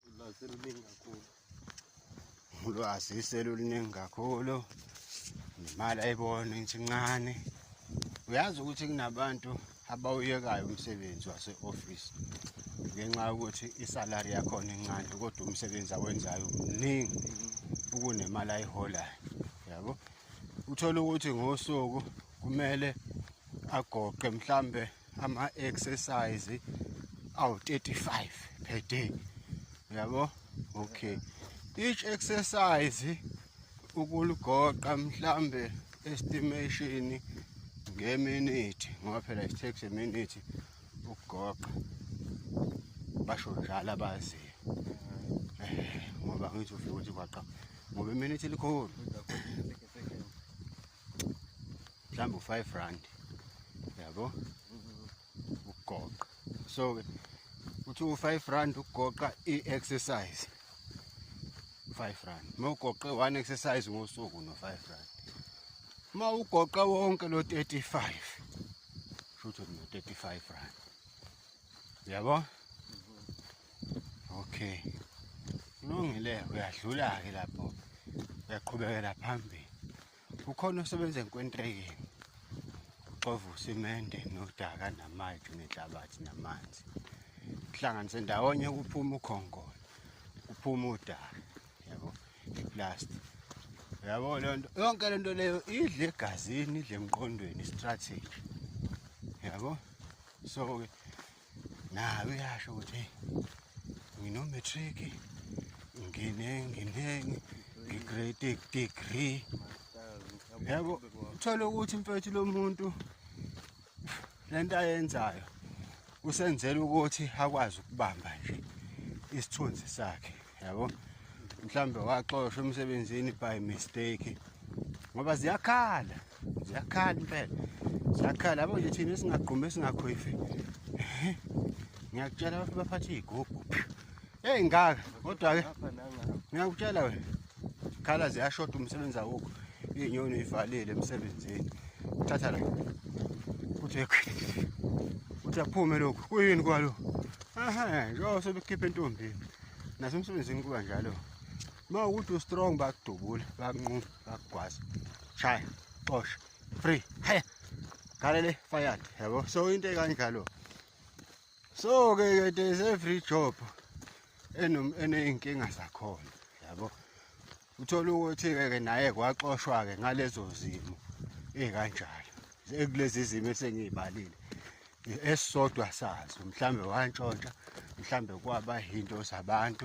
ulwazi luningi kakhulu ulwazi seluluningi kakhulu nemali ayibona ngithi ncane uyazi ukuthi kunabantu abawuyekayo umsebenzi wase-ofisi ngenxa yokuthi isalari yakhona incane kodwa umsebenzi awenzayo mningi ukunemali ayiholayo yabo uthole ukuthi ngosuku kumele agoqe mhlambe ama-exercise awu-35 per day yabo okay each exercise ukulugoqa mhlambe estimation ngeminithi ngoba phela it takes a minute ukugoqa basho njalo abaziyo eh, ngoba ngithi ufike ukuthi kwaqa ngoba iminithi likhulu mhlawumbe u-five rand yabo ukugoqa so-ke uthi u-five rand ukugoqa i-exercise five rand uma ugoqe one exercise ngosuku no-five rand uma ugoqa wonke lo-thirty-five shutho no-thirty-five rand yabo okay kulungile uyadlula-ke lapho uyaqhubekela phambili ukhona osebenza enkwentreyeni uxova usimende nodaka namayiki nenhlabathi namanzi kuhlanganise ndawonye kuphuma ukhonkolo kuphuma udaka yabo iplasti yabo le nto yonke le nto leyo idle egazini idle emqondweni istrategy yabo so-ke nayo uyasho ukuthi hey nginomatric ngine ngine ngigrade degree yabo uthole ukuthi mfethu lo muntu le nto ayenzayo usenzela ukuthi akwazi ukubamba nje isithunzi sakhe yabo mhlawumbe waxoshwa emsebenzini by mistake ngoba ziyakhala ziyakhala impela ziyakhala yabo nje thina esingagqumi esingakhwifi ngiyakutshela abantu baphathe iy'gubhu eyi ngaka kodwa-ke ngiyakutshela wena khala ziyashoda umsebenzi awukho iy'nyoni ivalile emsebenzini thatha la kuthi kuthi aphume lokhu kuyini kwalokhu aha njengoba sebekhiphe entombini nasemsebenzini kuba njalo uma ukuthi ustrong bakudubula bakunquma bakugwaza shaya xosha free haya galele fired yabo so into ekanjalo so ke ke there's every job eney'nkinga zakhona yabo uthola ukuthi-ke ke naye kwaxoshwa-ke ngalezo zimo ey'kanjalo ekulezi zimo esengiy'balile esisodwa sazo mhlawumbe wantshontsha mhlawumbe kwaba yinto zabantu